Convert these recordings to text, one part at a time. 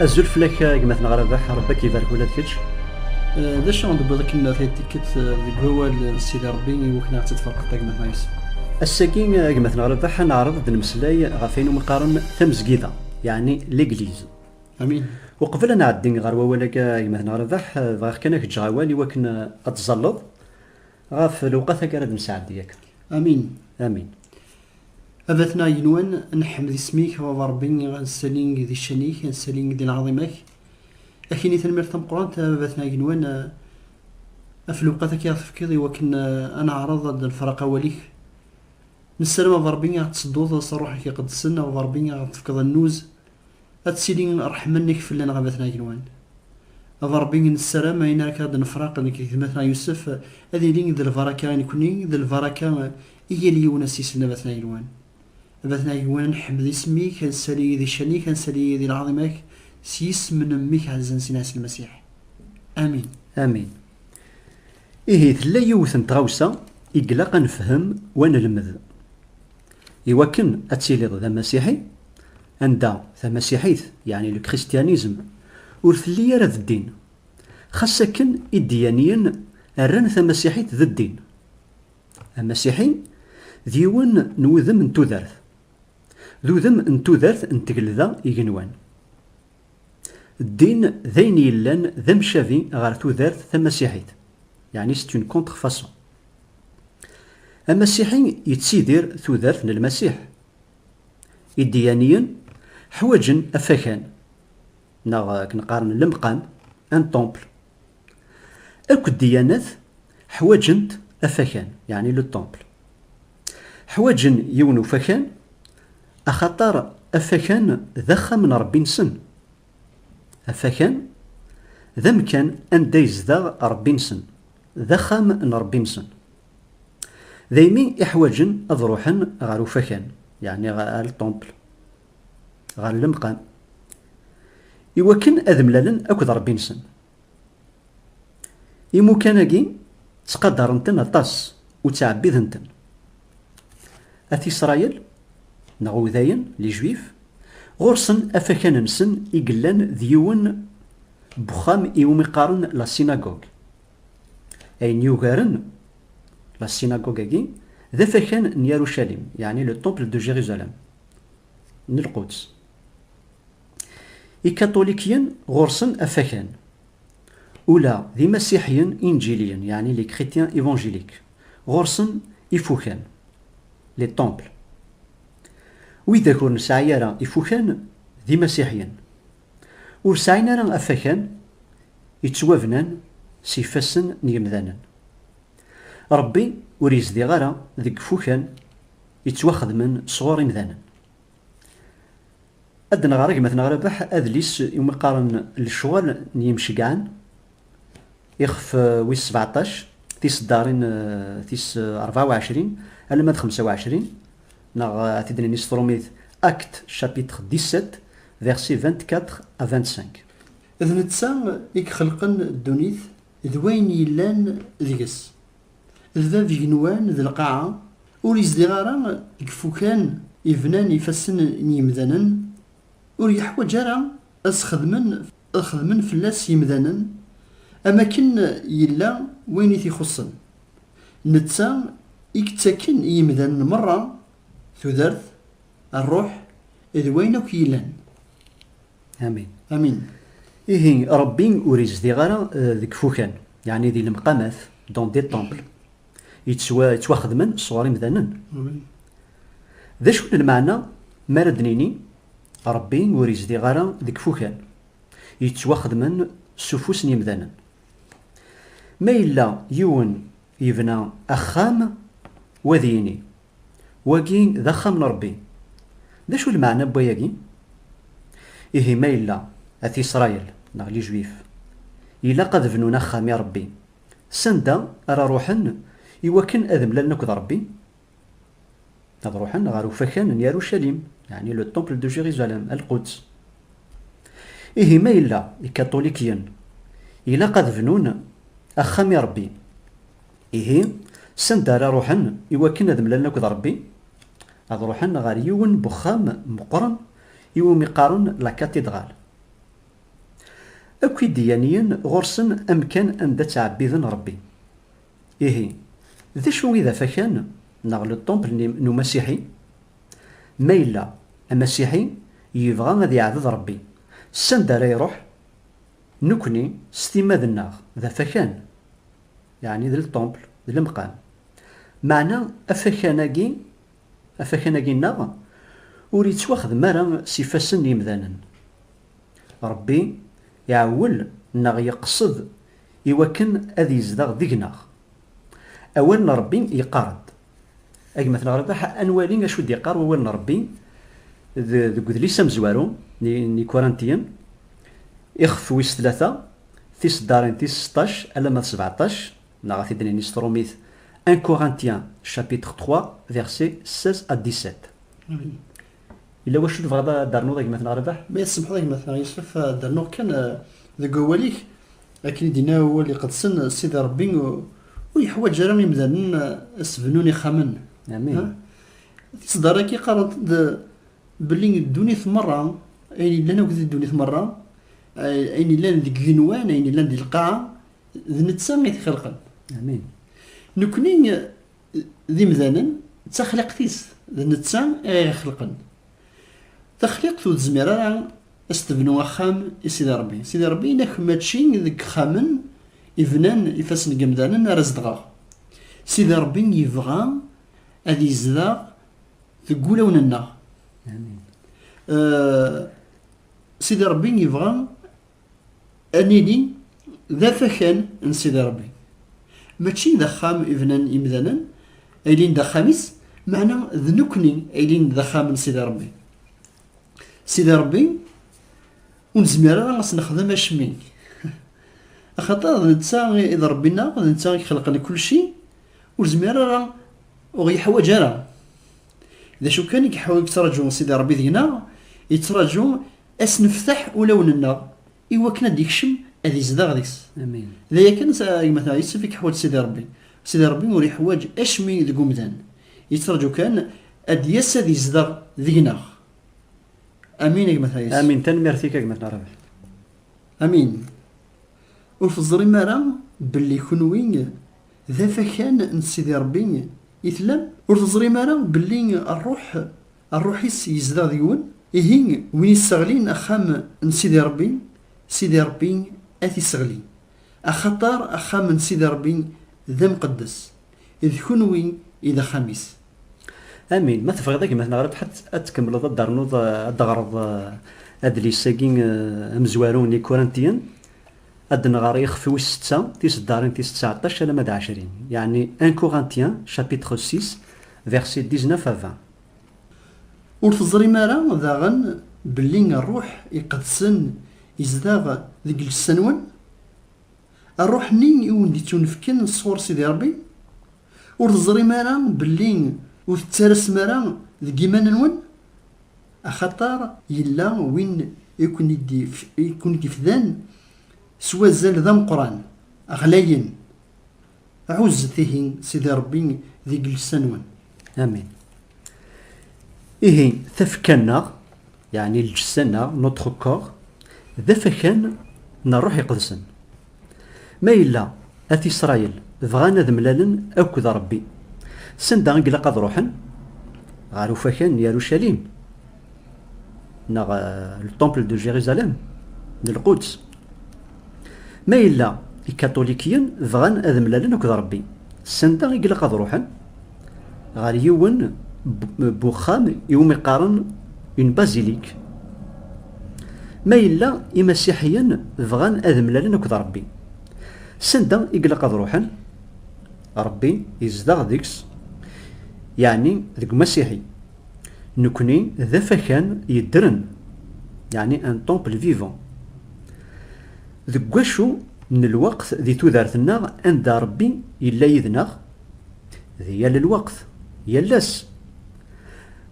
Azul fell-ak gma-tneɣ Rabeḥ, Rebbi ad k-ibarek ula d kečč. D acu i d-tewwiḍ akken tikkelt deg wawal n Sidi Rebbi i wakken ad ɣ-tt-id-tferqeḍ tagmat-a yes. Ass-agi gma-tneɣ Rabeḥ ad neɛreḍ ad d-nemmeslay ɣef ayen umi qqaren tamezgida, yeɛni l'église. Amin. Uqbel ad nɛeddi ɣer wawal-agi gma-tneɣ Rabeḥ, bɣiɣ kan ad ak-ǧǧeɣ awal i wakken ad tẓalleḍ Ɣef lewqat akka ara d-nesɛeddi yakk. Amin. Amin. A batna yenwan, nḥmed isem-ik, a baba Rebbi, a nessaling di ccan-ik, a nessaling di lɛaḍima-k. Ak ini tanemmirt tameqqrant, a batna yenwan, af lewqat akka i ɣ-tefkiḍ i wakken a neɛreḍ ad d-nefraq awal-ik. Nessaram a baba Rebbi a ɣ-d-tsedduḍ s Ṛṛuḥ-ik iqedsen, a baba Rebbi a ɣ-d-tefkeḍ annuz, Ad tili ṛṛeḥma-nnek fell-aneɣ a batna Agenwan. A Ṛebbi, nessaram ayen ara k-id nefṛaq nekk d gma-tneɣ Yusef ad yili d lbaṛaka i nekkni, d lbaṛaka i yal yiwen ass-isel a batna Agenwan. A batna Agenwan, nḥemmed isem-ik, ad nsali di ccan-ik, ad nsali di lɛaḍima-k, s yisem n Mmi-k ɛezzen Sina Ɛisa Lmasiḥ. Amin. Amin. Ihi tella yiwet n tɣawsa i ilaq a nefhem u a nelmed. I wakken ad tiliḍ d amasiḥi, anda tamasiḥit, yeɛni le christianisme, ur telli ara d ddin. Xas akken iddiyaniyen rran tamasiḥit d ddin. Amasiḥi d yiwen n wudem n tudert. D udem n tudert n tgelda igenwan. Ddin d ayen yellan d amcabi ɣer tudert tamasiḥit, yeɛni c'est une contrefaçon. Amasiḥi yettidir tudert n Lmasiḥ. Iddiyaniyen ḥwaǧen afakan, neɣ akken qqaren lemqam, un temple. Akk ddiyanat ḥwaǧent afakan, yeɛni le temple. Ḥwaǧen yiwen ufakan Axaṭer afakan d axxam n Ṛebbi-nsen. Afakan d amkan anda yezdeɣ Ṛebbi-nsen, d axxam n Ṛebbi-nsen. Daymi i ḥwaǧen ad ṛuḥen ɣer ufakan, yeɛni ɣer lṭumpel, ɣer lemqam, iwakken ad mlalen akked Ṛebbi-nsen. Imukan-agi ttqadaren-ten aṭas u ttɛebbiden-ten. At Isṛayil, neɣ Udayen, les Juifs, ɣur-sen afakan-nsen i yellan d yiwen n wexxam i wumi qqaren la synagogue. Ayen yugaren la synagogue-agi d afakan n Yarucalim, yeɛni le temple de Jérusalem, n Lquds. Ikaṭulikiyen ɣur-sen afakan, ula d imasiḥiyen inǧiliyen, yeɛni les chrétiens évangéliques, ɣur-sen ifukan, les temples. Widak ur nesɛi ara ifukan d imasiḥiyen. Ur sɛin ara afakan yettwabnan s yifassen n yemdanen. Rebbi ur yezdiɣ ara deg ifukan yettwaxedmen sɣur imdanen. Ad nɣer gma-t neɣ Rabeḥ adlis i wumi qqaren Lecɣal n yimceggɛen, ixef wis sbeɛṭac, tiseddarin tis rebɛa u ɛecrin alamma d xemsa u ɛecrin, neɣ ad t-id-nini s trumit Actes chapitre dix-sept versets vingt-quatre à vingt-cinq. D netta i ixelqen ddunit d wayen yellan deg-s. D bab igenwan d lqaɛa, ur izdiɣ ara deg ifukan yebnan ifassen n yimdanen, ur yeḥwaǧ ara ad s-xedmen ad xedmen fell-as yimdanen, am akken yella wayen i t-ixuṣṣen. Netta i yettaken i yimdanen merra tudert, rruḥ, d wayen akk yellan. Amin. Amin. Ihi Ṛebbi ur izdiɣ ara eh, deg ifukan, yeɛni di lemqamat, dans des temples, yettwaxedmen sɣur imdanen. D acu n lmeɛna mi ara d-nini Ṛebbi ur izdiɣ ara deg ifukan, yettwaxedmen s ufus n yimdanen? Ma yella yiwen yebna axxam, wa ad yini. Wagi d axxam n Ṛebbi. D acu lmeɛna n wayagi? Ihi ma yella At Isṛayil, neɣ Lijuif, ilaq ad bnun axxam i Ṛebbi, sanda ara ṛuḥen iwakken ad mlalen akked Ṛebbi? Ad ṛuḥen ɣer ufakan n Yarucalim, yeɛni le temple de Jérusalem, Lquds. Ihi ma yella Ikaṭulikyen ilaq ad bnun axxam i Ṛebbi, Ihi, sanda ara ruḥen i wakken ad mlalen akked Rebbi? Ad ruḥen ɣer yiwen n wexxam meqqren i wumi qqaren La Cathédrale. Akk ideyaniyen ɣur-sen amkan anda ttɛebbiden Rebbi. Ihi, d acu i d afakan neɣ le temple n Umasiḥi? Ma yella Amasiḥi yebɣa ad yeɛbed Rebbi, sanda ara iruḥ? Nekkni, s timmad-nneɣ, d afakan. Yeɛni d lṭumpl, d lemqam. Meɛna afakan-agi, afakan-agi-nneɣ, ur yettwaxdem ara s ifassen n yemdanen. Ṛebbi iɛewwel neɣ yeqsed i wakken ad yezdeɣ deg-neɣ. Awal n Ṛebbi yeqqar-d, A gma-t neɣ Rabaḥ, ad nwali acu d-iqqar wawal n Rebbi deg udlis amezwaru n Ikurantiyen, ixef wis tlata, tiseddarin tis seṭṭac alamma d sebeɛṭac, neɣ ad t-id-nini s trumit, Un Corinthien, chapitre trois, versets seize à dix-sept. Yella wacu tebɣiḍ ad d-ternuḍ a gma-t neɣ Rabaḥ? Ma i tsemḥeḍ a gma-t neɣ Yusef, ad d-rnuɣ kan deg wawal-ik Akken i d-yenna awal iqedsen, Sidi Ṛebbi ur yeḥwaǧ ara imdanen ad s-bnun ixxamen. Amin. Tiseddaṛ-agi qqarent-d belli ddunit meṛṛa, ayen yellan akk di ddunit meṛṛa, ayen yellan deg igenwan, ayen yellan di lqaɛa, d netta i t-ixelqen. Amin. Nekkni d imdanen, d taxliqt-is, d netta i ɣ-ixelqen. Taxliqt ur tezmir ara ad s-tebnu axxam i Sidi Ṛebbi. Sidi Ṛebbi yenna-ak mačči deg yexxamen ibnan ifassen n yemdanen ara zedɣeɣ. Sidi Ṛebbi yebɣa ad yezdeɣ deg wulawen-nneɣ. Sidi Ṛebbi yebɣa ad nili d afakan n Sidi Ṛebbi. Mačči d axxam ibnan yemdanen ay ilin d axxam-is, meɛna d nekkni ay ilin d axxam n Sidi Ṛebbi. Sidi Ṛebbi, ur nezmir ara ad s-nexdem acemma. Axaṭer d netta i d Ṛebbi-nneɣ, d netta i ixelqen kulci, ur nezmir ara, ur ɣ-yeḥwaǧ ara. D acu kan i yettṛaǧu Sidi Ṛebbi deg-neɣ, yettṛaǧu ad s-neftaḥ ulawen-nneɣ, I wakken ad d-ikcem ad izdeɣ deg-s. D aya kan, gma-tneɣ Yusef i yeḥwaǧ Sidi Ṛebbi. Sidi Ṛebbi ur yeḥwaǧ acemmi deg umdan. Yettraǧu kan ad d-yas ad izdeɣ deg-neɣ. Amin a gma-tneɣ Yusef. Amin, tanemmirt-ik a gma-tneɣ Rabaḥ. Amin. Ur teẓrim ara belli kenwi d afakan n Sidi Ṛebbi i tellam? Ur teẓrim ara belli Ṛṛuḥ Rruḥ-is yezdeɣ deg-wen, ihi win yesseɣlin axxam n Sidi Ṛebbi, Sidi Ṛebbi ad t-isseɣli, axaṭer axxam n Sidi Ṛebbi d amqeddes, d kunwi i d axxam-is. Amin. Ma tebɣiḍ a gma Tneɣraft ad tkemmleḍ ad d-ternuḍ ad d-teɣreḍ adlis-agi amezwaru n Ikurantiyen. Ad d-nɣer ixef wis setta, tiseddarin tis tseɛṭac alamma d ɛecrin, yeɛni un Corinthien chapitre six versets dix-neuf à vingt. Ur teẓrim ara daɣen belli Rruḥ Iqedsen izdeɣ deg llessa-nwen? Rruḥ-nni i wen-d-ittunefken sɣur Sidi Ṛebbi? Ur teẓrim ara belli ur tettarasem ara deg yiman-nwen? Axaṭer yella win i ken-id-ifdan s wazal d ameqqran, ɣlayen. Ɛuzzet ihi Sidi Ṛebbi deg llesa-nwen. Amin. Ihi, tafekka-nneɣ. Yeɛni lǧessa-nneɣ, notre corps, d afakan n Rruḥ Iqedsen. Ma yella At Isṛayil bɣan ad mlalen akked Ṛebbi, s anda i ilaq ad ṛuḥen? Ɣer ufakan n Yarucalim, neɣ le temple de Jérusalem, n Lquds. Ma yella Ikatulikiyen bɣan ad mlalen akked Ṛebbi, sanda i ilaq ad ṛuḥen? Ɣer yiwen n uxxam iwumi qqaren une basilique. Ma yella Imasiḥiyen bɣan ad mlalen akked Ṛebbi, sanda i ilaq ad ṛuḥen? Ṛebbi yezdeɣ deg-s, yeɛni deg Umasiḥi. Nekni d afakan yeddren, yeɛni un temple vivant. Deg wacu n lweqt di tudert-nneɣ anda Rebbi yella yid-neɣ? Di yal lweqt, yal ass.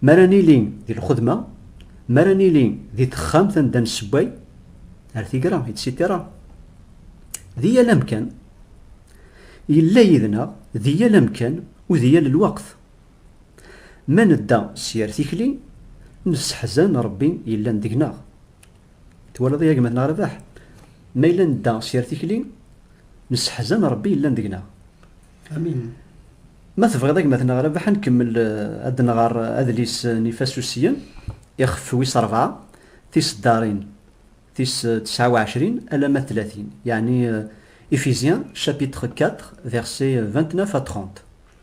Mi ara nili di lxedma, mi ara nili di texxamt anda nessewway, ar tigra, etc. Di yal amkan. Yella yid-neɣ di yal amkan u di yal lweqt. Ma nedda s yir tikli, nesseḥzan Ṛebbi yellan deg-neɣ. Twalaḍ i agmat n Rabaḥ? Ma yella nedda s yir tikli, nesseḥzan Ṛebbi yellan deg-neɣ. Amin. Ma tebɣiḍ agmat n Rabaḥ, ad nkemmel ad d-nɣer adlis n Ifasusiyen, ixef wis ṛebɛa, tiseddaṛin tis tesɛa u ɛecrin alamma tlatin, yeɛni Éphésiens chapitre quatre versets vingt-neuf à trente.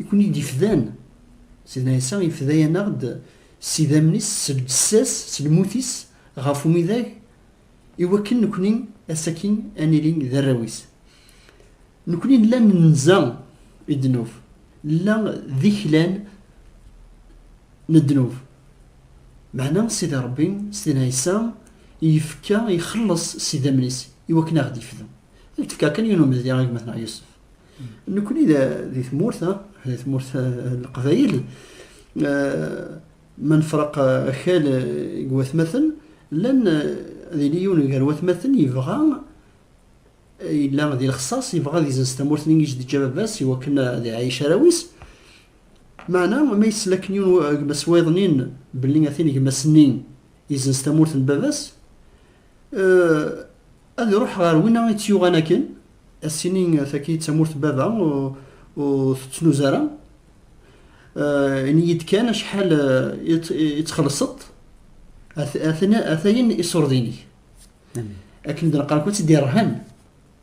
i ken-id-ifdan, Sidna Ɛisa ifda-yaneɣ-d s idammen-is, s lǧessa-s, s lmut-is ɣef umidag, i wakken nekni ass-agi ad nili d arraw-is. Nekni nella nenza i ddnub, nella d iklan n ddnub. Meɛna Sidi Ṛebbi, Sidna Ɛisa, yefka, ixelleṣ s idammen-is i wakken ad ɣ-d-ifdu. Ad k-d-fkeɣ kan yiwen umezdi i gma-tneɣ Yusef. Nekkni di tmurt, di tmurt Leqbayel, ma nefreq akal deg watmaten, llan ad yili yiwen gar watmaten yebɣa yella di lexṣaṣ yebɣa ad izenz tamurt-nni i s-d-teǧǧa baba-s i wakken ad iɛayec arraw-is meɛna ma yessel akken yiwen gma-s wayeḍnin belli a tin gma-s-nni izenz tamurt n baba-s ad iruḥ ɣer wina i tt-yuɣan akken assini taki d tamurt n baba ur tettnuz ara ini-yi-d kan acḥal i txellṣeḍ ata-yen iṣurdinek akken d-neqqar-ak ur tt-id-irhan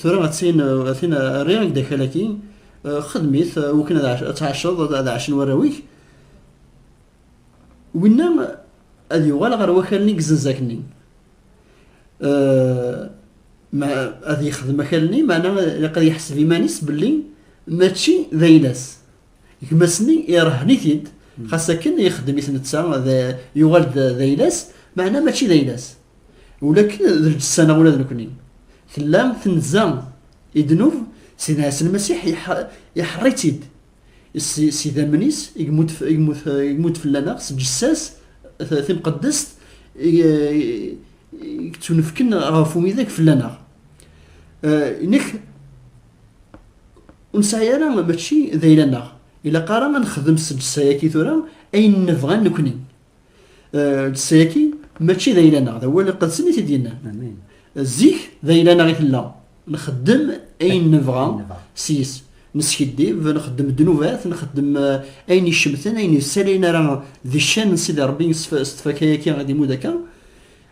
tura atin atin rriɣ ak-d akal-agi xedm-it wakken ad tɛaceḍ ad ɛacen warraw-ik winna ad yuɣal ɣer wakal-nni gzenzak-nni ad yexdem akal-nni maɛna ilaq ad yeḥseb iman-is belli mačči d ayla-s Gma-s-nni irehhen-it-id, xas akken ixeddem-it netta, yuɣal-d d ayla-s, meɛna mačči d ayla-s. Ula akken d lǧessa-neɣ ula d nekni. Tella tenza i ddnub, Sidna Ɛisa Lmasiḥ iḥeṛṛ-itt-id s idammen-is i yemmut fell-aneɣ, s lǧessa-s timqeddest i yettunefken ɣef umidag fell-aneɣ. Nek Ur nesɛi ara mačči d ayla-nneɣ. Ilaq ara ad nexdem s lǧessa-agi tura ayen nebɣa nekkni. Lǧessa-agi mačči d ayla-nneɣ, d awal iqedsen i t-id-yennan. Zik d ayla-nneɣ i tella, nxeddem ayen nebɣa seg-s, neskiddib, nxeddem ddnubat, nxeddem ayen icemten, ayen yessalayen ara di ccan n Sidi Ṛebbi s tfakka-agi i d-imudd akka.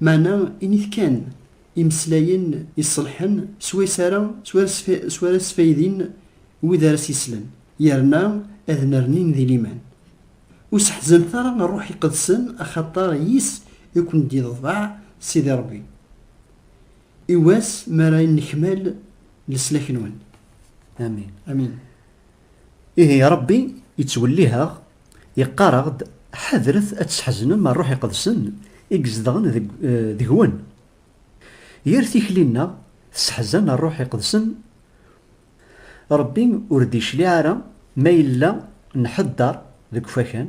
Meɛna init kan imeslayen iṣelḥen s wayes ara s wara sfaydin wid ara s-yeslen, yerna ad nernin di liman. Ur seḥzanet ara Rruḥ Iqedsen axaṭer yis i ken-d-iḍbeɛ Sidi Ṛebbi. I wass mi ara nnekmal leslak-nwen. Amin. Amin. Ihi Ṛebbi yettwelliheɣ, yeqqar-aɣ-d, Ḥadret ad tesḥeznem Ṛṛuḥ Iqedsen i izedɣen deg-wen. Yir tikli-nneɣ tesseḥzan Ṛṛuḥ Iqedsen. Ṛebbi ur d-yecliɛ ara ma yella nḥeddeṛ deg ufakan,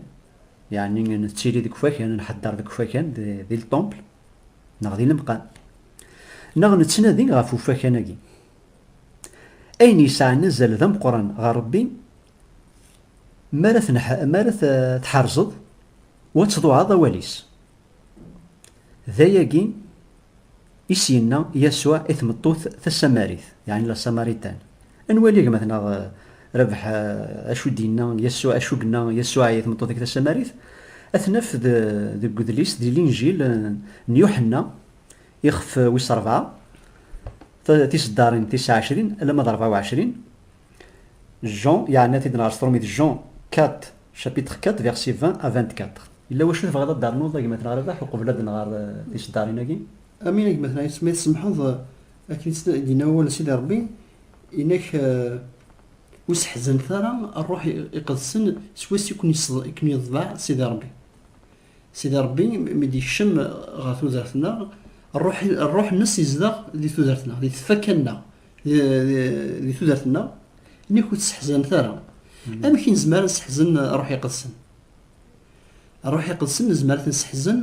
yeɛni nettili deg ufakan, nḥeddeṛ deg ufakan, di lṭumpl neɣ di lemqam, neɣ nettnadi ɣef ufakan-agi. Ayen yesɛan azal d ameqqran ɣer Rebbi, mi ara mi ara tḥerzeḍ u ad tḍuɛeḍ awal-is. D ayagi i s-yenna Yasuɛ i tmeṭṭut tasamarit, yeɛni la Samaritan. Ad nwali a gma-tneɣ Rabeḥ acu i d-yenna Yasuɛ, acu yenna Yasuɛ i tmeṭṭut-agi tasamarit. Ad t-naf deg udlis, di Linjil n Yuḥenna, Ixef wis rebɛa, tiseddarin tis ɛecrin alamma d rebɛa u ɛecrin. Jean yeɛna-t-id neɣ yesṭrum-it Jean kat, chapitre kat, verset vingt à vingt-quatre. Yella wacu tebɣiḍ ad d-ternuḍ a gma At Nɣerbaḥ uqbel ad nɣer tiseddarin-agi? Amin a gma At Nɣerbaḥ, ma tsemmḥeḍ, akken i d-yenna wawal n Sidi Rebbi, yenna-k ur seḥzanet ara Ṛṛuḥ Iqedsen s wass i ken-yeḍbeɛ Sidi Ṛebbi. Sidi Ṛebbi mi d-yekcem ɣer tudert-nneɣ, Ṛṛuḥ-nnes yezdeɣ di tudert-nneɣ, di tfakka-nneɣ, di tudert-nneɣ, nek ur tt-sseḥzanet ara. Amek i nezmer ad nesseḥzen Ṛṛuḥ Iqedsen? Ṛṛuḥ Iqedsen nezmer ad t-nesseḥzen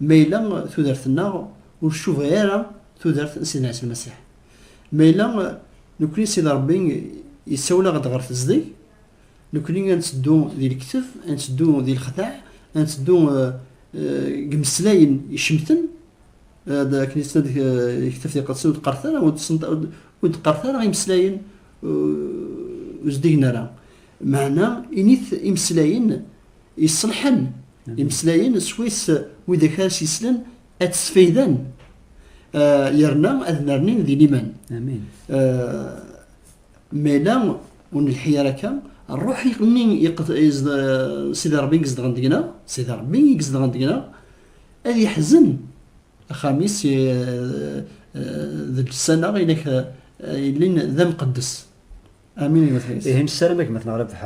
ma yella tudert-nneɣ ur tcuba ara tudert n Sidna Ɛisa Lmasiḥ. Ma yella nekkni Sidi Ṛebbi yessawel-aɣ-d ɣer tezdeg, Nekkni ad netteddu di lektef, ad netteddu di lexdaɛ, ad netteddu deg imeslayen icemten, akken i ttnad lektef di lqedsen ur d-qqaret ara, ur d-qqaret ara imeslayen ur zeddigen ara. Meɛna init imeslayen iṣelḥen, imeslayen swayes widak ara s-yeslen ad tt-sfayden yerna ad nernin di liman. Mela ur nelḥi ara akka, ṛṛuḥ nni Sidi Ṛebbi izedɣen deg-neɣ, Sidi Ṛebbi i izedɣen deg-neɣ, ad yeḥzen axxam-is d llsan-a i nekk yellin d amqeddes. Amin. Ihi nessaram a gma-tneɣ Rabeḥ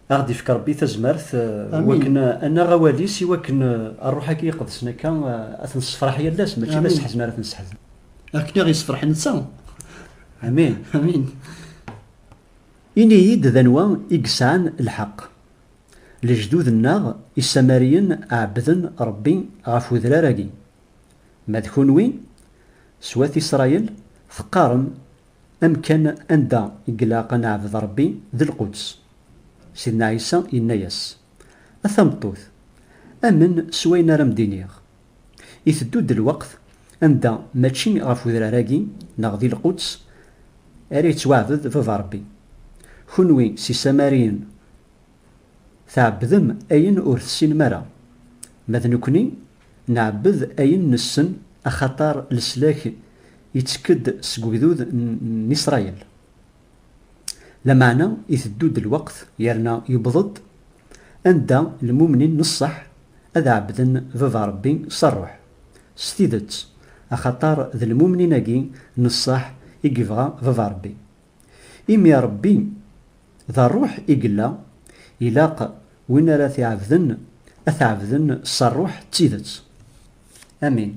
Ad ɣ-d-ifk Ṛebbi tazmert wakken ad naɣ awal-is i wakken Ṛṛuḥ-agi iqedsen akka ad t-nessefṛaḥ yal ass mačči d aseḥzen ara t-nesseḥzen. Akken i ɣ-yessefṛeḥ netta. Amin. Amin. Ini-yi-d d anwa i yesɛan lḥeqq. Lejdud-nneɣ isamariyen ɛebbden Ṛebbi ɣef wedrar-agi. Ma d kunwi, s wat Isṛayil, teqqarem Amkan anda i ilaq ad neɛbed Ṛebbi d lquds. Sidna Ɛisa yenna-yas, A tameṭṭut, amen s wayen ara m-d-iniɣ. Iteddu-d lweqt anda mačči ɣef udrar-agi neɣ di lquds ara yettwaɛbed Baba Ṛebbi. Kunwi s isamariyen tɛebbdem ayen ur tessinem ara, ma d nekni Nɛebbed ayen nessen, axaṭer leslak ittekk-d seg ugdud n Isṛayil. Lameɛna iteddu-d lweqt yerna yewweḍ-d anda lmumnin n ṣṣeḥ ad ɛebbden Baba Ṛebbi s ṛṛuḥ, s tidet, axaṭer d lmumnin-agi n ṣṣeḥ i yebɣa Baba Ṛebbi. Imi Ṛebbi d Ṛṛuḥ i yella, ilaq win ara t-iɛebden ad t-ɛebden s ṛṛuḥ d tidet. Amin.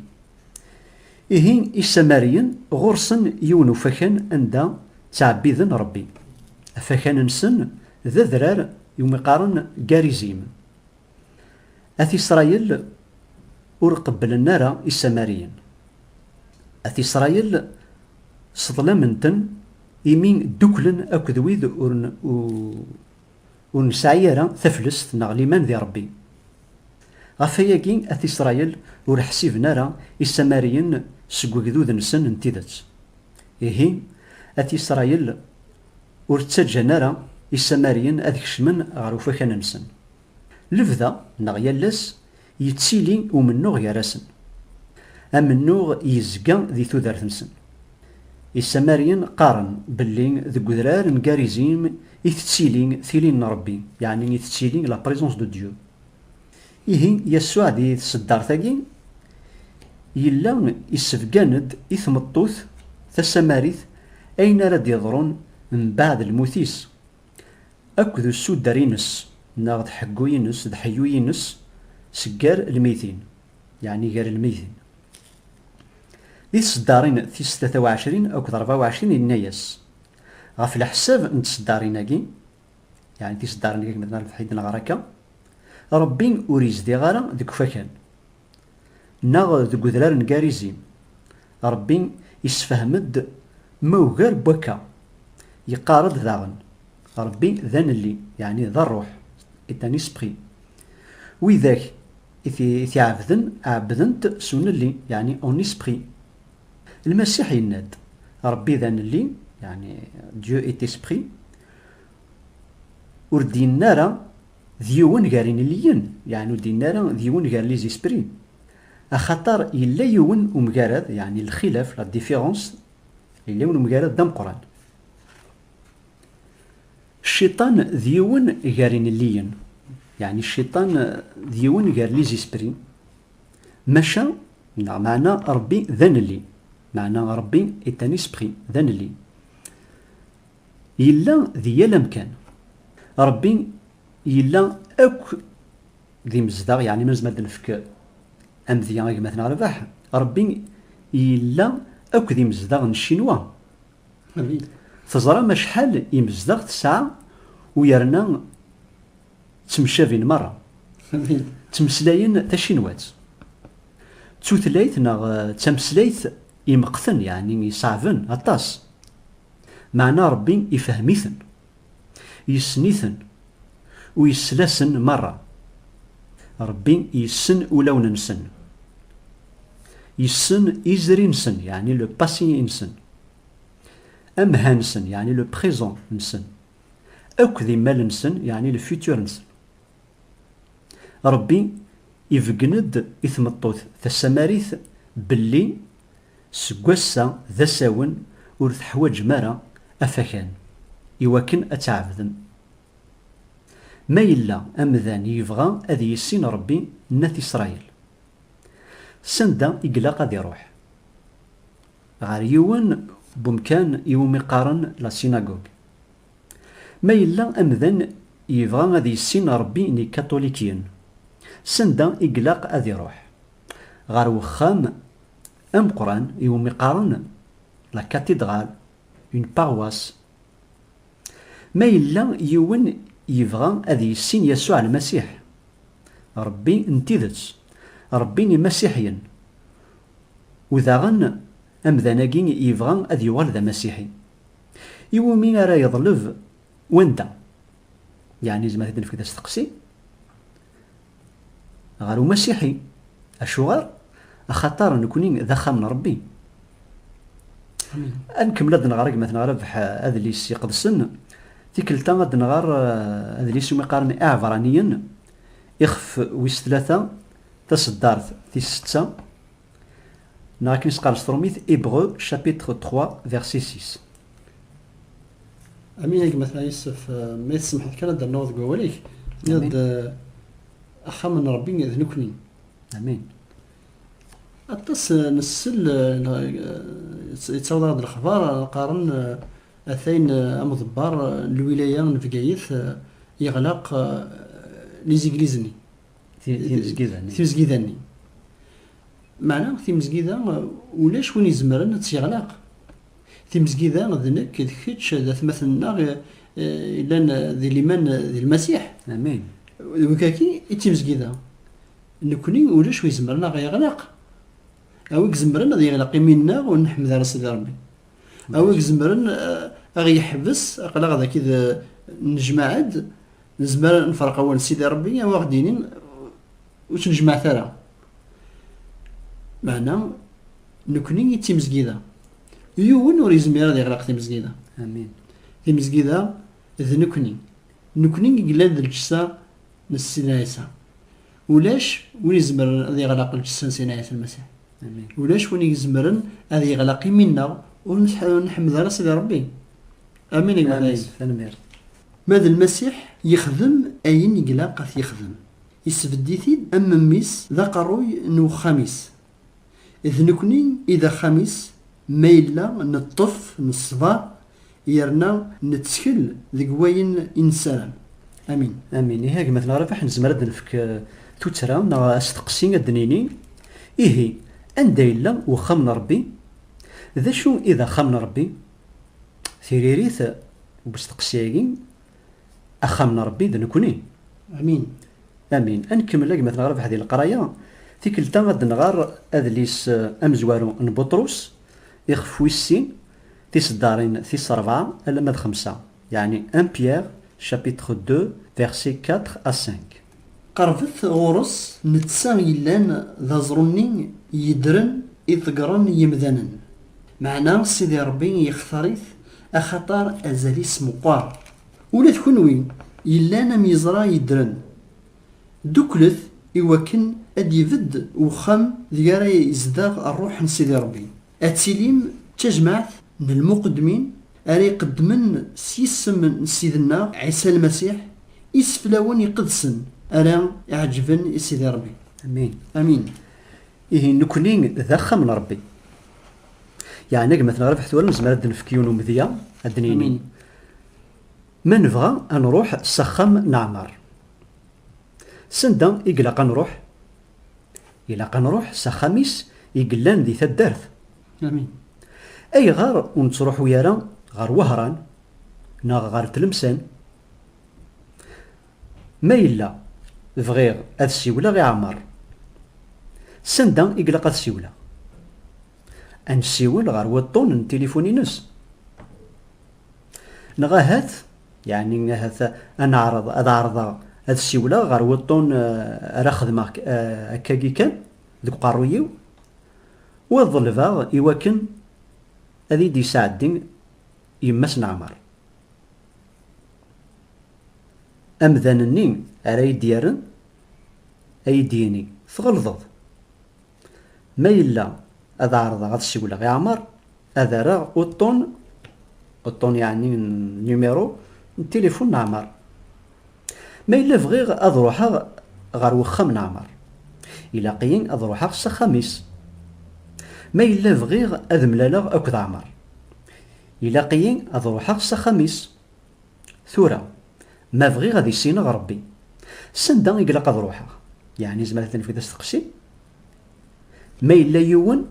Ihi Isamariyen ɣur-sen yiwen ufakan anda ttɛebbiden Ṛebbi. Afakan-nsen d adrar iwumi qqaren Garizim. At Isṛayil ur qebblen ara Isamariyen. At Isṛayil sseḍlamen-ten imi dduklen akked wid ur nesɛi ara taflest neɣ liman di Ṛebbi. Ɣef wayagi, At Isṛayil ur ḥsiben ara Isamariyen seg wegdud-nsen n tidet. Ihi, At Isṛayil ur ttaǧǧan ara Isamariyen ad kecmen ɣer ufakan-nsen. Lebda neɣ yal ass yettili umennuɣ gar-asen. Amennuɣ yezga di tudert-nsen. Isamaryen qqaren belli deg udrar n Garizim i tettili tili n Rebbi, yeɛni i tettili la présence de Dieu. Ihi Yasuɛ di tseddart-agi yella isebgan-d i tmeṭṭut tasamarit ayen ara d-yeḍrun mbaɛd lmut-is. akk d usuder-ines neɣ d ḥeggu-ines, d ḥeyyu-ines seg gar lmeytin, yeɛni gar lmeytin. Di tseddarin tis tlata u ɛecrin akked rebɛa u ɛecrin yenna-yas, Ɣef leḥsab n tseddarin-agi, yeɛni tiseddarin-agi akken ma tenna Lefḥi i d-neɣra akka, Rebbi ur yezdiɣ ara deg ufakan. neɣ deg udrar n Garizim, Ṛebbi yessefhem-d ma ugar n wakka, yeqqar-d daɣen, Ṛebbi d Anelli, yeɛni d Ṛṛuḥ, est un esprit, widak i t-iɛebden ɛebbden-t s unelli, yeɛni en esprit. Lmasiḥ yenna-d, Ṛebbi d Anelli, yeɛni Dieu est esprit, ur d-yenna ara D yiwen gar inelliyen, yeɛni ur d-yenni ara d yiwen gar les esprits, axaṭer yella yiwen umgarad, yeɛni lxilaf, la différence, yella yiwen umgarad d ameqqran. Cciṭan d yiwen gar inelliyen, yeɛni cciṭan d yiwen gar les esprits, maca, neɣ meɛna Ṛebbi d anelli, meɛna Ṛebbi est un esprit, d anelli. Yella di yal amkan. Ṛebbi yella akk d imezdaɣ, yeɛni ma nezmer ad nefk amedya i gma-tneɣ Rrbeḥ, Ṛebbi yella akk d imezdaɣ n Ccinwa. Teẓram acḥal imezdaɣ tesɛa u yerna ttemcabin meṛṛa. Ttmeslayen tacinwat. D tutlayt neɣ d tameslayt imeqten, yeɛni iṣeɛben aṭas. Meɛna Ṛebbi ifehhem-iten, yessen-iten u yessel-asen meṛṛa. Ṛebbi yessen ulawen-nsen. Yessen izri-nsen, yeɛni le passé-nsen, amha-nsen, yeɛni le présent-nsen, akk d imal-nsen, yeɛni le futur-nsen. Ṛebbi ibeggen-d i tmeṭṭut tasamarit belli Seg wass-a d asawen ur teḥwaǧem ara afakan i wakken ad tɛebdem. Ma yella amdan yebɣa ad yissin Ṛebbi n At Isṛayil, s anda i ilaq ad iṛuḥ? Ɣer yiwen n wemkan i wumi qqaren La Synagogue. Ma yella amdan yebɣa ad yissin Ṛebbi n Yikatulikiyen, s anda i ilaq ad iṛuḥ? Ɣer wexxam ameqqran i wumi qqaren la cathédrale, une paroisse. Ma yella yiwen yebɣa ad yissin Yasuɛ Lmasiḥ, Ṛebbi n tidet, Ṛebbi n Imasiḥiyen, u daɣen amdan-agi yebɣa ad yuɣal d Amasiḥi, i wumi ara yeḍleb wanda? Yeɛni yezmer ad t-id-nefk d asteqsi? Ɣer umasiḥi. Acuɣer? Axaṭer nekkni d axxam n Ṛebbi. Ad nkemmel ad d-nɣer agmat neɣ Rabeḥ Adlis Iqedsen. Tikkelt-a ad d-nɣer adlis umi qqaren Iɛebraniyen, ixef wis tlata, taṣeddart tis setta. Neɣ akken i s-qqaren s trumit, Hébreux, chapitre 3, verset 6. Amin a gma Tna Yusef, ma i tsemḥeḍ kan ad d-rnuɣ deg wawal-ik, tenniḍ-d axxam n Rebbi d nekkni. Amin. Aṭas nsell, yettaweḍ-aɣ-d lexbar, qqaren atayen amḍebbar n lwilaya n Bgayet yeɣlaq lizigliz-nni. timezgida-nni. Meɛna timezgida ulac win izemren ad tt-yeɣlaq. Timezgida d nekk, d kečč, d atmaten-nneɣ yellan di liman di Lmasiḥ. Amin. D wikaki i d timezgida. Nekkni ulac wi izemren ad ɣ-yeɣlaq. A wi izemren ad yeɣlaq imi-nneɣ ur nḥemmed ara Sidi Ṛebbi. A wi izemren ad ɣ-yeḥbes aql-aɣ dagi d nejmaɛ-d Nezmer nefreq awal Sidi Rebbi awa ɣ-d-inin ur tt-nejmeɛet ara. Meɛna nekni i d timezgida. Yiwen ur yezmir ad iɣlaq timezgida. Amin. Timezgida d nekni. Nekni i yellan d lǧessa n Sidi Ɛisa. Ulac win izemren ad iɣlaq lǧessa n Sidi Ɛisa Lmasiḥ. Amin. Ulac win izemren ad iɣlaq imi-nneɣ ur nḥemmel ara Sidi Rebbi. Amin a gma Taɛisa. Tanemmirt. Ma d Lmasiḥ, yexdem ayen i ilaq ad t-yexdem, isbedd-it-id am memmi-s, d aqerruy n uxxam-is. D nekni i d axxam-is ma yella neṭṭef, neṣber, yerna nettkel deg wayen i nessaram. Amin. Amin. Ihi a gma-tneɣ Rabeḥ, nezmer ad d-nefk tuttra neɣ asteqsi, ad d-nini, Ihi, anda yella uxxam n Rebbi? D acu i d axxam n Rebbi? Tiririt n usteqsi-agi, Axxam n Ṛebbi d nekkni. Amin. Amin. Ad nkemmel a gma-tneɣ Rabeḥ di leqraya. Tikkelt-a ad nɣer adlis amezwaru n Buṭrus ixef wis sin, tiseddaṛin tis ṛebɛa alamma d xemsa, yeɛni 1 Pierre chapitre ii versets quatre à cinq. Qerbet ɣur-s netta yellan d aẓru-nni yeddren i ḍeggren yemdanen, meɛna Sidi Ṛebbi yextar-it axaṭer azal-is meqqer. Ula d kunwi yellan am yeẓra yeddren, dduklet i wakken ad d-ibedd wexxam deg ara izdeɣ Ṛṛuḥ n Sidi Ṛebbi. Ad tilim d tajmaɛt n lmuqeddmin ara iqeddmen s yisem n Ssid-nneɣ Ɛisa Lmasiḥ iseflawen iqedsen ara iɛeǧǧben i Sidi Ṛebbi. Amin. Amin. Ihi nekkni d axxam n Ṛebbi. Yeɛnig ma t-nerbeḥ tura nezmer ad d-nefk yiwen umedya, ad d-nini. Amin. Ma nebɣa ad nruḥ s axxam n Ɛmer. S anda i ilaq ad nruḥ? Ilaq a nruḥ s axxam-is i yellan di taddart. Amin. Ayɣer ur nettruḥu ara ɣer Wehran neɣ ɣer Tlemsan? Ma yella bɣiɣ ad siwleɣ i Ɛmer. Sanda i ilaq ad siwleɣ? Ad nessiwel ɣer wuṭṭun n tilifun-ines? Neɣ ahat Yeɛni ahat ad neɛreḍ, ad ɛerḍeɣ ad siwleɣ ɣer wuṭṭun ara xedmeɣ akkagi kan deg uqerruy-iw, u ad ḍelbeɣ iwakken ad iyi-d-yesɛeddi yemma-s n Ɛmer. Amdan-nni ara iyi-d-yerren, ad iyi-d-yini, Tɣelḍeḍ! Ma yella ad ɛerḍeɣ ad siwleɣ i Ɛmer, ad rreɣ uṭṭun, uṭṭun yeɛni numéro, n tilifun n Ɛmer. Ma yella bɣiɣ ad ruḥeɣ ɣer wexxam n Ɛmer, ilaq-iyi ad ruḥeɣ s axxam-is. Ma yella bɣiɣ ad mlaleɣ akked Ɛmer, ilaq-iyi ad ruḥeɣ s axxam-is. Tura, ma bɣiɣ ad issineɣ Ṛebbi, sanda i ilaq ad ṛuḥeɣ? Yeɛni nezmer ad nefk-d asteqsi? Ma yella yiwen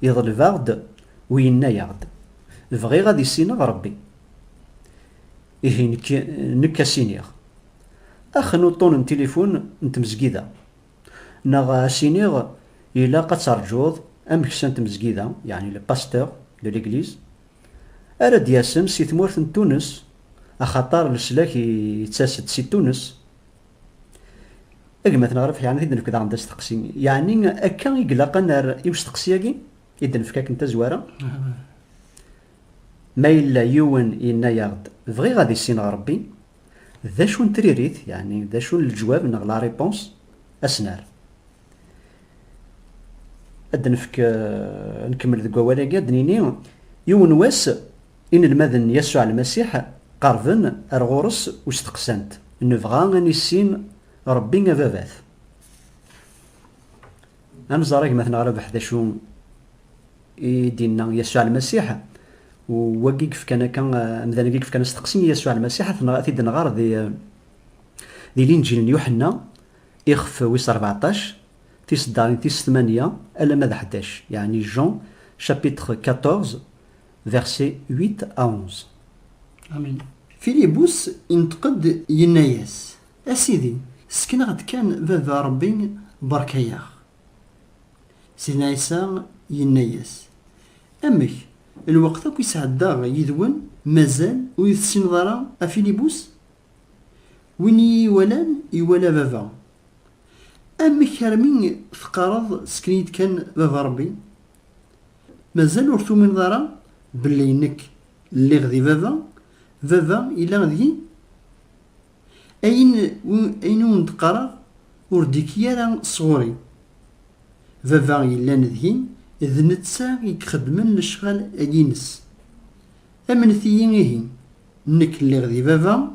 yeḍleb-aɣ-d u yenna-yaɣ-d, Bɣiɣ ad issineɣ Ṛebbi. Ihi nekk, nekk a s-iniɣ, Ax n uṭṭun n tilifun n tmezgida. Neɣ a s-iniɣ, Ilaq ad terǧuḍ ameksa n tmezgida, yeɛni le pasteur de l'église. Ara d-yasen si tmurt n Tunes, axaṭer leslak yettas-d si Tunes. A gma Tneɣraft yeɛni ad d-nefk daɣen d asteqsi, yeɛni akka i ilaq ad nerr i usteqsi-agi i d-nefk akken tazwara? Ma yella yiwen yenna-yaɣ-d bɣiɣ ad issineɣ Rebbi, d acu n tririt, yeɛni d acu n leǧwab neɣ la réponse, a s-nerr? ad nefk eh, nkemmel deg wawal-agi ad nini yiwen wass inelmaden Yasuɛ Almasiḥ qerben ar ɣur-s u steqsan-t, Nebɣa ad nissin Rebbi ababat. Ad nẓer agmaten ɣer abeḥ d acu i d-inna Yasuɛ Almasiḥ u wagi yefkan akka eh, amdan-agi yefkan asteqsi i Yasuɛ Almasiḥ ad t-id-nɣer di eh, di Linǧil n Yuḥenna Ixef wis rbeɛṭac, tiseddaṛin tis tmanya alamma d ḥdac, yeɛni Jean chapitre quatorze versets huit à onze. Amin. Filibus ineṭq-d yenna-yas, A Sidi, ssken-aɣ-d kan Baba Ṛebbi, beṛka-yaɣ. Sidna Ɛisa yenna-yas, Amek, lweqt akk i sɛeddaɣ yid-wen, mazal ur yi-tessineḍ ara, a Filibus? Win i yi-iwalan, iwala Baba. Amek armi teqqareḍ sken-iyi-d kan Baba Rebbi? Mazal ur tumineḍ ara belli nekk lliɣ di Baba, Baba yella deg-i? Ayen, ayen i wen-d-qqareɣ ur d-ikki ara sɣur-i. Baba yellan deg-i, d netta i ixeddmen lecɣal-agi-ines. Amnet-iyi ihi. Nekk lliɣ di baba,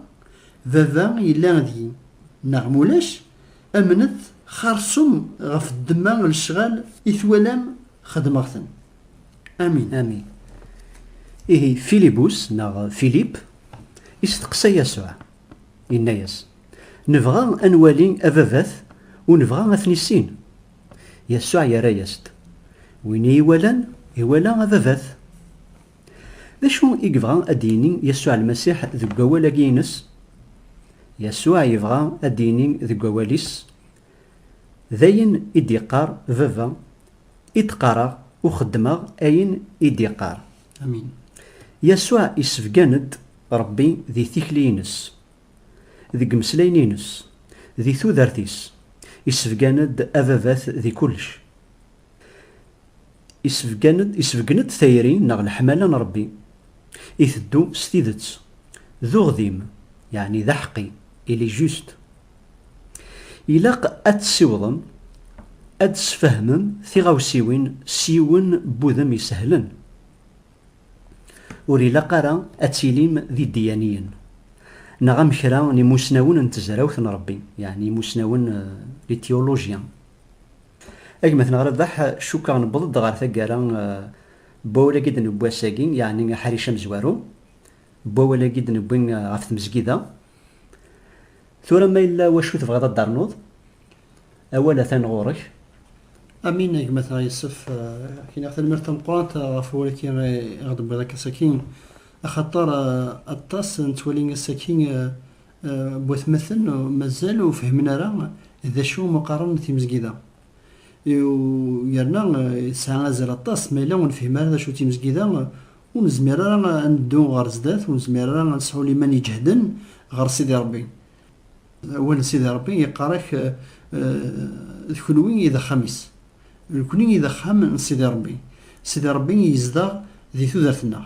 baba yella deg-i. Neɣ ma ulac, amnet xarsum ɣef ddemma n lecɣal i twalam xedmeɣ-ten. Amin. Amin. Ihi Filibus, neɣ Filip, isteqsa Yasuɛ, inna-yas, Nebɣa ad nwali Ababat u nebɣa ad t-nissin. Yasuɛ yerra-yas-d, Win i yi-iwalan, iwala Ababat. D acu i yebɣa ad d-yini Yasuɛ Lmasiḥ deg wawal-agi-ines? Yasuɛ yebɣa ad d-yini deg wawal-is, D ayen i d-iqqar Baba i d-qqareɣ u xeddmeɣ ayen i d-iqqar. Amin. Yasuɛ isebgan-d Rebbi di tikli-ines, deg imeslayen-ines, di tudert-is, isebgan-d Ababat di kullec. Isbeggen-d tayri neɣ leḥmala n Ṛebbi, iteddu s tidet, d uɣdim, yeɛni d aḥeqqi, il est juste. Ilaq ad tessiwḍem ad d-tesfehmem tiɣawsiwin s yiwen n wudem isehlen. Ur ilaq ara ad tilim d iddiyaniyen, neɣ am kra n imusnawen n tezrawt n Ṛebbi, yeɛni imusnawen, les théologiens. A gma tenɣ Rabaḥ, cukkeɣ newweḍ-d ɣer taggara n wawal-agi d-newwi ass-agi, yeɛni aḥric amezwaru n wawal-agi d-newwi ɣef tmezgida. Tura ma yella wacu tebɣiḍ ad d-ternuḍ, awal atan ɣur-k. Amin a gma tenɣ Yessef, ak-iniɣ tanemmirt tameqqrant ɣef wawal-agi i ɣ-d-tewwiḍ akka ass-agi, axaṭer aṭas nettwali ass-agi Watmaten mazal ur fehmen ara d acu umi qqaren timezgida. Yerna tesɛa azal aṭas, ma yella ur nefhim ara d acu timezgida, ur nezmir ara ad neddu ɣer sdat, ur nezmir ara ad nesɛu liman iǧehden ɣer Sidi Ṛebbi. Awal n Sidi Ṛebbi yeqqar-ak, D kenwi i d axxam-is. Nekni i d axxam n Sidi Ṛebbi. Sidi Ṛebbi yezdeɣ di tudert-nneɣ.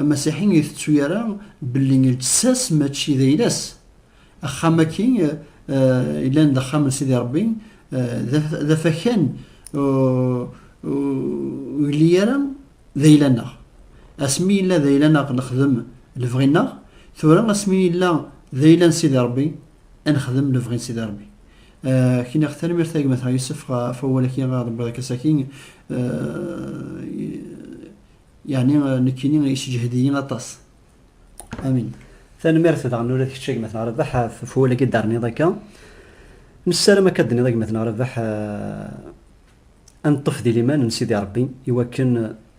Amasiḥi ur itettu ara belli lǧessa-s mačči d ayla-s. Axxam-agi yellan d axxam n Sidi Ṛebbi, d afakan ur yelli ara d ayla-nneɣ. Asmi yella d ayla-nneɣ nexdem lebɣi-nneɣ, tura asmi yella d ayla n Sidi Ṛebbi ad nexdem lebɣi n Sidi Ṛebbi. Kniɣ tanemmirt a gma-tɣ Yusef ɣef wawal-agi ara ɣ-d-tewwiḍ akka saki. Yeɛni nekkini yessejhed-iyi aṭas. Amin. Tanemmirt daɣen ula d kečč a gma Tenɣrabaḥ ɣef wawal-agi d-terniḍ akka. Nessaram akka d-tenniḍ a gma Tenɣrabaḥ ad neṭṭef di liman n Sidi Rebbi i wakken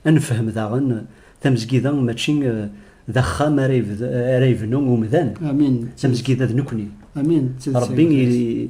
ad nefhem daɣen tamezgida mačči d axxam ara yebnu umdan, tamezgida d nekkni. Amin. Rebbi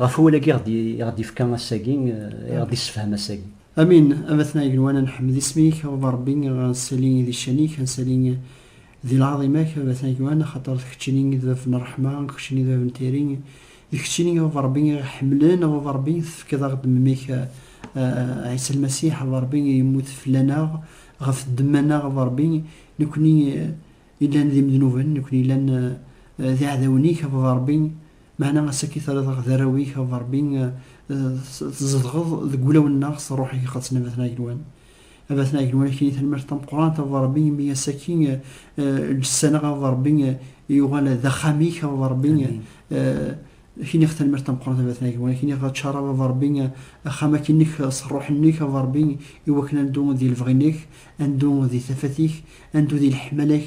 Ɣef wawal agi i ɣ-d-yefka ass-agi, i ɣ-d-yessefhem ass-agi. Amin, a batna igenwan a nḥemmed isem-ik, a wḍa Rebbi, a nsali di ccan-ik, a nsali di lɛaḍima-k, a batna igenwan, axaṭer d keččini i d bab n ṛṛeḥma, d keččini i d bab n tayri, d keččini a baba Rebbi i ɣ-iḥemmlen, a baba Rebbi tefkiḍ-aɣ-d mmi-k Ɛisa Lmasiḥ, a baba Rebbi yemmut fell-aneɣ, ɣef ddemma-nneɣ, a baba Rebbi, nekkni yellan d imednuben, nekkni yellan d iɛdawen-ik, a baba Rebbi, Meɛna ass akk i terriḍ aɣ d arraw-ik, a Ṛebbi, tzedɣeḍ deg wulawen-nneɣ s Ṛṛuḥ-ik iqedsen, a Bat n Ɛegluan. A Bat n Ɛegluan, ak-ini tanemmirt tameqqrant, a Ṛebbi, imi ass akk-i lǧessa-nneɣ, a Ṛebbi, yuɣal d axxam-ik, a Ṛebbi, ak-iniɣ tanemmirt tameqqrant, a Bat n Ɛegluan, ak-iniɣ ččareḍ, a Ṛebbi, axxam-agi-nnek s Ṛṛuḥ-nnek, a Ṛebbi, iwakken ad neddu di lebɣi-nnek, ad neddu di tafat-ik, ad neddu di leḥmala-k,